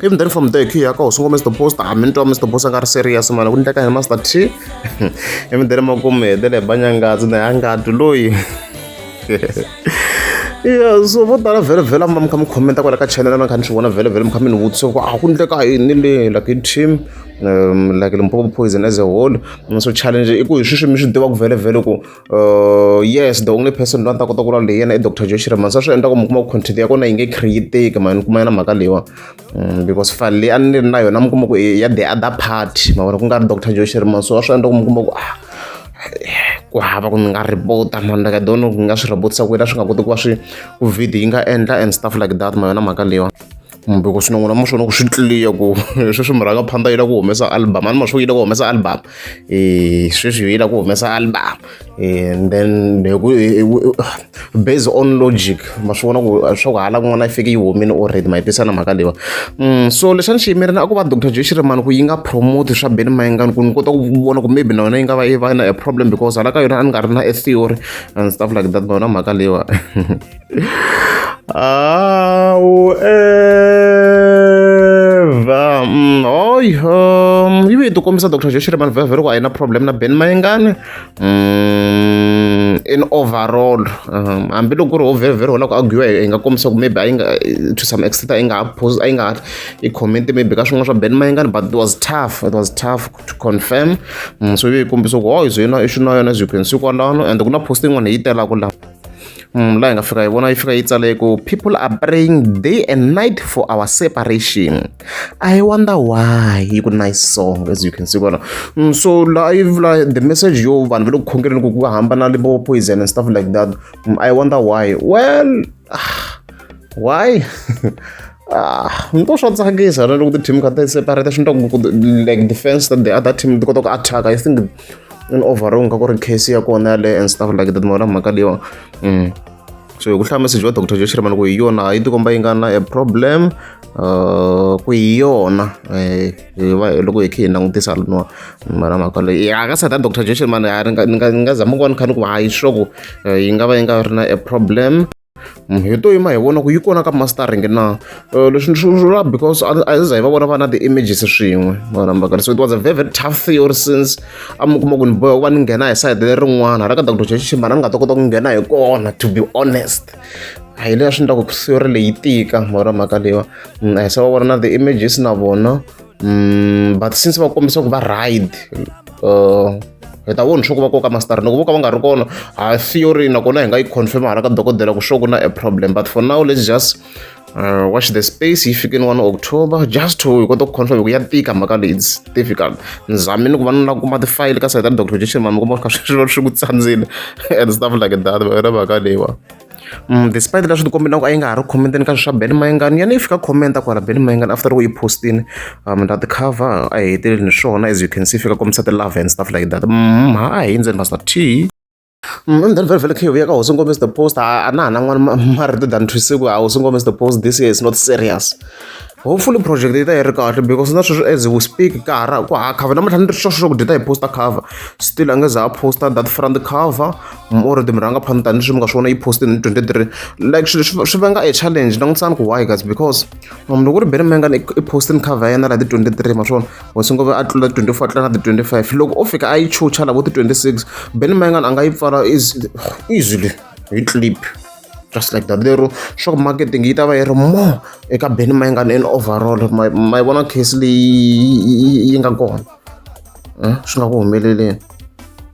came then from there khiya ka hosungo mr post a minto mr boss a nga ri serious mani ku ndleka hi master t ivi then makumu hetele banyangazi na yangati loyi ya so vo tala vhele vhele a mi va mi kha mi khomenta kwala ka channel a mi kha ni swi vona vhele vhele mi kha mi ni vutisa ku a ku ndleka yini le like hi team um like limpopo poison as a whole so challenge i ku hi swi swi mi swi tiva ku vhele vhele ku Uh, yes the only person loyi a ni ta kota ku lawula hi yena i doctor josh reman sa swi endla ku mi kuma ku content ya kona yi nge createki mani kuma yena mhaka leyiwa mm, because file leyi a ni ri na yona mi kuma ku ya the other party ma vona ku nga ri doctor josh reman so a swi endla ku mi kuma ku ah ku hava ku ni nga repota mani like i don't know ku nga swi repotisa ku yena swi nga koti ku va swi ku video yi nga endla and stuff like that ma yona mhaka leyiwa kumbe ku swinon'wina ma swona ku swi tliya ku sweswi murhangaphandza yi lava ku humesa album a ni ma swi yi lava ku humesa album um sweswi yi lava ku humesa album and then based on logic ma swi vona ku swa ku hala kun'wana yi fike yi humile already ma yi tisa na mhaka leyiwa mm, so lexi a ni xi yimerile a ku va dr j xirimani ku yi nga promote swa beni mayengani ku ni kota ku vona ku maybe na yona yi nga va yi va na a problem because hala ka yona a ni nga ri na a theory and stuff like that ma yona mhaka leyiwa Au, Eva. Mm, oi, um, ivi ti kombisa Dr. Josh ri vanhu vhevhe loko a yi na problem na Ben Mayengani. Mm, in overall um, hambiloko ku ri ho vhevhe ri holaka arguiwa hi nga kombisa ku maybe a yi nga to some extent a yi nga ha pose a yi nga ha i comment maybe ka swin'wana swa Ben Mayengani but it was tough it was tough to confirm mm, so ivi yi kombisa ku oi zo yona i xi na yona as you can see kwalano and ku na post yin'wana hi yi telaka laha Mm, laha hi nga fika hi vona yi fika yi tsale ku people are praying day and night for our separation i wonder why yi ku nice song as you can see kona mm, so laha yi vula the message yo vanhu va le ku khongeleni ku va hambana libo poison and stuff like that mm, i wonder why well ah, why Ah, ni to swa tsakisa ra loko ti-team kha ti separate swi ni ku like defense that the other team ti kota ku attack-a i think in overall nga ku ri case ya kona yaleyo and stuff like that mona mhaka leyiwa mm. so hi ku hlaya message wa dr joshire mani ku hi yona a yi tikomba yi nga na a problem uh, ku hi yona eh, loko hi khe hi langutisa loniwa mara mhaka leyi ya ka sata dr joshire mani ni nga zama ku va ni kha ni ku va yi sure ku eh, yi nga va yi nga ri na a problem munhu hi to yima hi vona ku yi kona ka mastering na eh, leswi ni swi vula because a hi za hi va vona va na ti-images swin'we vanambaka so it was a very very tough theory since a mi kuma ku ni boya ku va ni nghena hi side lerin'wana ra ka doctor chechichi mara ni nga ta kota ku nghena hi kona to be honest a hi leya swi ni ta ku theory leyi tika mara mhaka leyiwa mm, a hi se va vona na ti-images na vona mm, but since va kombisa ku va ride uh, hi ta voni swa ku va koka mastari loko vo ka va nga ri kona ha theory nakona hi nga yi confirm hala ka dokodela ku swo ku na a problem but for now let's just uh, watch the space yi fikeni one october just to hi kota ku confirm ku ya tika mhaka leyi its difficult nizame ni ku va ni la kuma tifayili ka sayita ni doctor jason mami kuma kha swi swi ku tsandzile and stuff like that va yona mhaka leyiwa despite leswi ti kombelaka a yi nga ha ri comment-eni ka swilo swa ben mayengani yana yi fika comment-a kwala ben mayengani after loko yi postini um na ti-cover a yi heteleli ni swona as you can see fika kombisa ti-love and stuff like that mm, ha a hi endzeni pastor t and then very very clear vuyaka hosi nkombisa the post a na ha na n'wana marito than thwisiku a hosi nkombisa the post this year is not serious hopefully project yi ta yi ri kahle because na sweswi as we speak ka ha ra ku ha cover namuntlha ni ri xoxo xo ku dyi ta hi posta cover still a nge za a posta that front cover more the murhanga phana tani leswi mi nga swi vona yi poste ni 23 like swilo swi vanga a challenge langutisani ku why guys because munhu loko ri bere menga ni i poste ni cover ya yena la ti 23 ma swona wa swi ngova a tlula 24 tlula na ti 25 loko o fika a yi chucha la vo ti 26 ben menga a nga yi pfala easily hi clip just like that lero shop marketing yi ta va yi ri more eka ben mayingana in overall ma yi vona case leyi yi nga kona swi nga ku humeleleni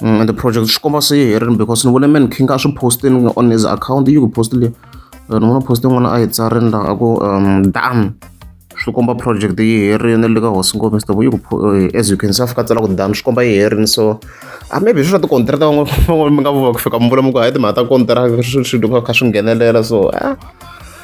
And the project swi komba se yi herile because ni vone man king a swi postini on his account yi ku post leyi eh, ni vona post yin'wana a yi tsarini laha a ku um dam swi komba project yi herile le ka hosi ngombe sitovo yi ku eh, as you can see a fika tsala ku dam swi komba yi herile so a ah, maybe swi swa tikontrata van'wana mi nga vova ku fika mi vula mi ku hayi timhaka ta kontraka swi swi kha swi nghenelela so a ah.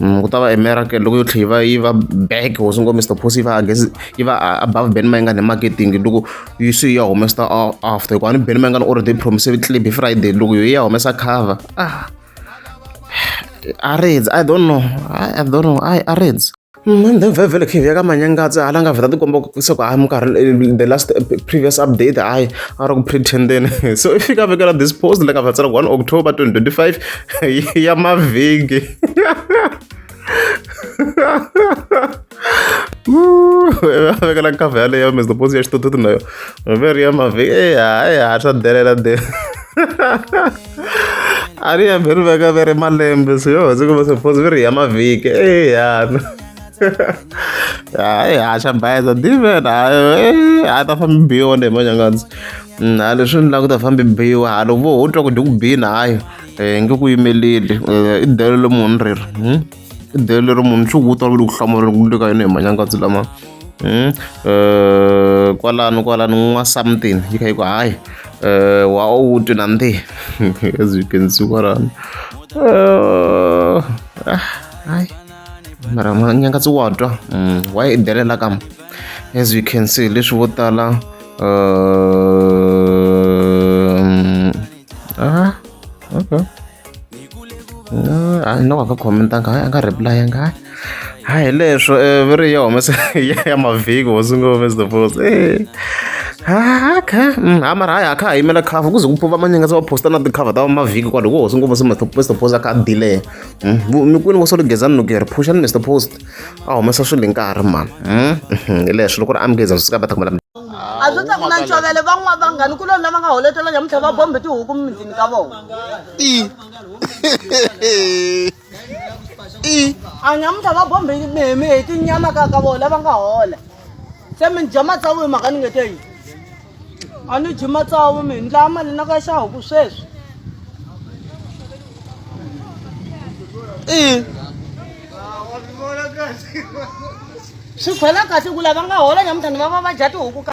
Mm, ku ta va emeraka loko yo tlhe yi va yi va back hosi ngo mr posi yi va against yi va above ben mayinga ne marketing loko yi se ya humesa after hikuva ni ben mayinga ni already promise clip hi friday loko yo ya humesa cover ah areds i don't know i don't know i areds mm, and then vhevhele khivi ya ka manyangatsi hala nga vheta tikomba se ku hayi ah, minkarhi eh, the last eh, previous update hayi a ri ku pretenden so i fika vekela this post la nga vhetsela ku one october 2025 ya mavhiki Veka na nkava yaleyo mi zdo pozi yashito tutu nayo veri ya mavi eya eya hatsa delela de a ri ya veri veka veri malembe so yo ndzi kuma suppose veri ya mavhiki eya hayi haxa bayiza diven hayi a ta fambi biwa ni hi manyangandzi hayi leswi ni languta fambi biwa halo vo ho twa ku dyi ku bini hayi um nge ku yimeleli i delo le munhu rero um i delo lero munhu swi ku twa ku le ku hlamuleni ku le ka yona hi manyangatsi lama um um kwalano kwalano n'wa something yi kha yi ku hayi um wa u twi na ndi as you can see kwalano um hayi mara manyangatsi wa twa um wa yi delela kama as you can see leswi vo tala um Ah, okay. No, a ni nga va khomentanga hayi a nga reply-anga hayi hayi hi leswo eh, veri ya humese ya ya mavhiki hosi ngo humese the post eh. Ah, okay. Mm, ha mara hayi a kha ha yimela cover ku ze ku pfuva manyanga se va posta na ti-cover ta mavhiki kwalo ku hosi ngo humese mr post the post a kha a delay Mm, vu- mi kwini vo solo gezani loko hi ri phuxani mr post a humesa swilo hi nkarhi mani Mm, mhm, hi leswo loko ri amgeza swi ka va ta kumela a swi ta ku na ncovele van'wana vanghani ku lona va nga holetela nyamutlhe va bombe tihuku mimintini ka vona i i a nyamutlha va bombe mihimi hi tinyama ka ka vona va nga hola se mi ni dya matsavu hi mhaka ni nge te yini a ni dyi matsavu mi ni dlaya mali na ka xa huku sweswi i swi khwela kasi ku lava nga hola nyamutlhani va va va dya tihuku ka